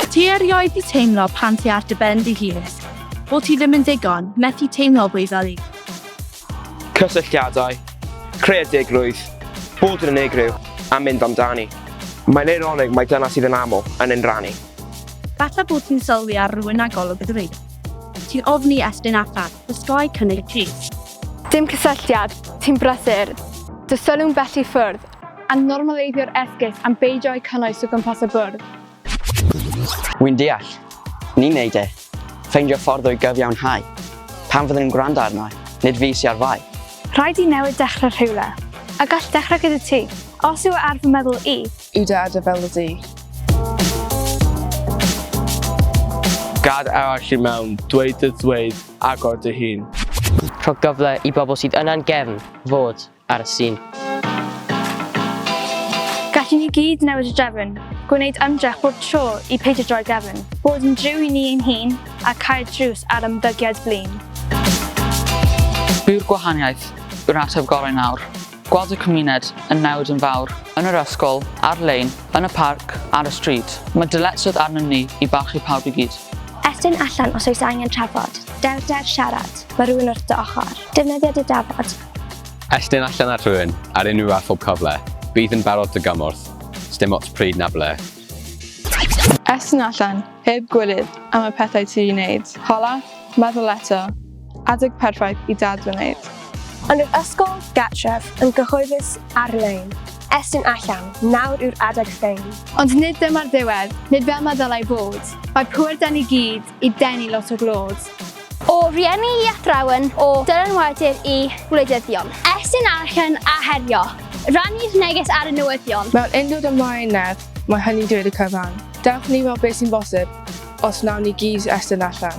Ti erioed di teimlo pan ti ar dy ben dy hun, bod ti ddim yn digon, methu teimlo fwy fel i. Cysylltiadau, creadigrwydd, bod yn unigryw a mynd amdani. Mae'n eironig mae dyna sydd yn aml yn ein rannu. Falle bod ti'n sylwi ar rhywun â golwg y Ti'n ofni estyn allan. Dysgau cynnig ti. Dim cysylltiad, ti'n brysur. Dy sylw'n bell i ffwrdd. A normaleiddio'r esgus am beidio â'i cynnwys o gwmpas y bwrdd. Wi'n deall. Ni'n neud e. Ffeindio ffordd o'i gyfiawnhau. Pam fydden nhw'n gwrando arno? Nid fi sy ar fai. Rhaid i newid dechrau rhywle. A gall dechrau gyda ti. Os yw e ar fy meddwl i. Yw dy adar fel y du? Gad arall i mewn, dweud dy ddweud, agor dy hun. Rhoi gyfle i bobl sydd yna'n gefn fod ar y sîn. Gallwn ni gyd newid y drefn, gwneud ymdrech bob tro i peidio droi gefn, bod yn driw i ni ein hun a cau'r drws ar ymddygiad blin. Byw'r gwahaniaeth yw'r ateb gorau nawr. Gweld y cymuned yn newid yn fawr, yn yr ysgol, ar-lein, yn y parc, ar y stryd. Mae dyletswydd arnyn ni i barchu pawb i gyd. Estyn allan os oes angen trafod. Dewr dewr siarad, mae rhywun wrth dy ochr. Defnyddia dy dafod. Estyn allan at rywun ar unrhyw a phob cyfle. Bydd yn barod dy gymorth, sdim ots pryd na ble. Estyn allan Heb gwilydd am y pethau ti 'di 'neud. Hala, meddwl eto, adeg perffaith i dad fy neud. Ond yr ysgol gartref yn gyhoeddus ar-lein. Estyn allan, nawr yw'r adeg ffein. Ond nid dyma'r ddiwedd, nid fel ma' ddylai fod. Mae pŵer 'da ni gyd i denu lot o glod. O rieni i athrawon, o dylanwadur i wleidyddion. Estyn allan a herio, rannu'r neges ar y newyddion. Mewn undod ymlaen nerth, mae hynny'n dweud y cyfan. Dewch ni weld beth sy'n bosib os wnawn ni gyd estyn allan.